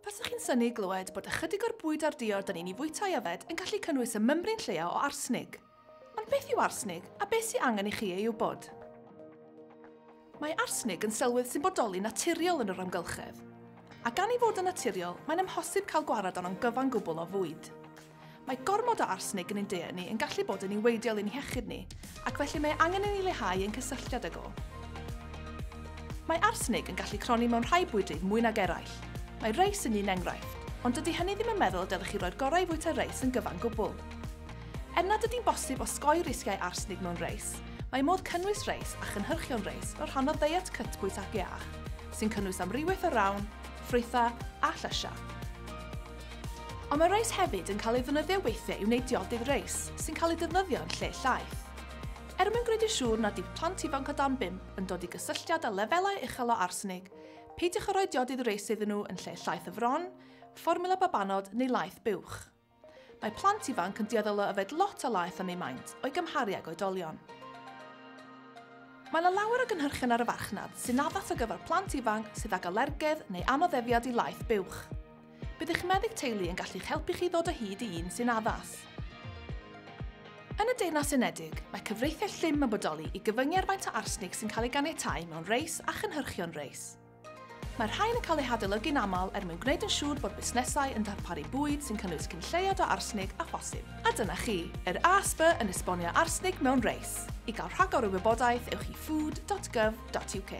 Fasech chi'n synu i glywed bod ychydig o'r bwyd a'r diod da ni'n ei fwyta i yfed yn gallu cynnwys y mymryn lleia o arsnig. Ond beth yw arsnig, a beth sy'n angen i chi ei wybod? Mae arsnig yn selwydd sy'n bodoli naturiol yn yr amgylchedd. A gan ei fod yn naturiol, mae'n amhosib cael gwared arno'n gyfan gwbl o fwyd. Mae gormod o arsenig yn ein diet ni yn gallu bod yn niweidiol i'n hiechyd ni, ac felly mae angen i ni leihau ein cysylltiad ag o. Mae arsenig yn gallu cronni mewn rhai bwydydd mwy nag eraill. Mae reis yn un enghraifft, ond dydy hynny ddim yn meddwl y dylech chi roi'r gorau i fwyta reis yn gyfan gwbl. Er nad ydy'n bosib osgoi risgiau arsenig mewn reis, mae modd cynnwys reis a chynhyrchion reis fel rhan o ddeiet cytbwys ac iach, sy'n cynnwys amrywiaeth o rawn, ffrwythau a llysiau. Ond mae reis hefyd yn cael ei ddefnyddio weithiau i wneud diodydd reis, sy'n cael eu defnyddio yn lle llaeth. Er mwyn gwneud yn siŵr nad yw plant ifanc o dan bump yn dod i gysylltiad â lefelau uchel o arsenig, peidiwch â rhoi diodydd reis iddyn nhw yn lle llaeth y fron, fformiwla babanod neu laeth buwch. Mae plant ifanc yn dueddol o yfed lot o laeth am eu maint, o'i gymharu ag oedolion. Mae yna lawer o gynhyrchion ar y farchnad sy'n addas ar gyfer plant ifanc sydd ag alergedd neu anoddefiad i laeth buwch. Bydd eich meddyg teulu yn gallu'ch helpu chi ddod o hyd i un sy'n addas. Yn y Deyrnas Unedig, mae cyfreithiau llym yn bodoli i gyfyngu ar faint o arsnig sy'n cael ei ganiatáu mewn reis a chynhyrchion reis. Mae'r rhain yn cael eu hadolygu'n aml er mwyn gwneud yn siŵr bod busnesau yn darparu bwyd sy'n cynnwys cyn lleied o arsnig â phosib. A dyna chi, yr ASB yn esbonio arsnig mewn reis. I gael rhagor o wybodaeth, ewch i food.gov.uk.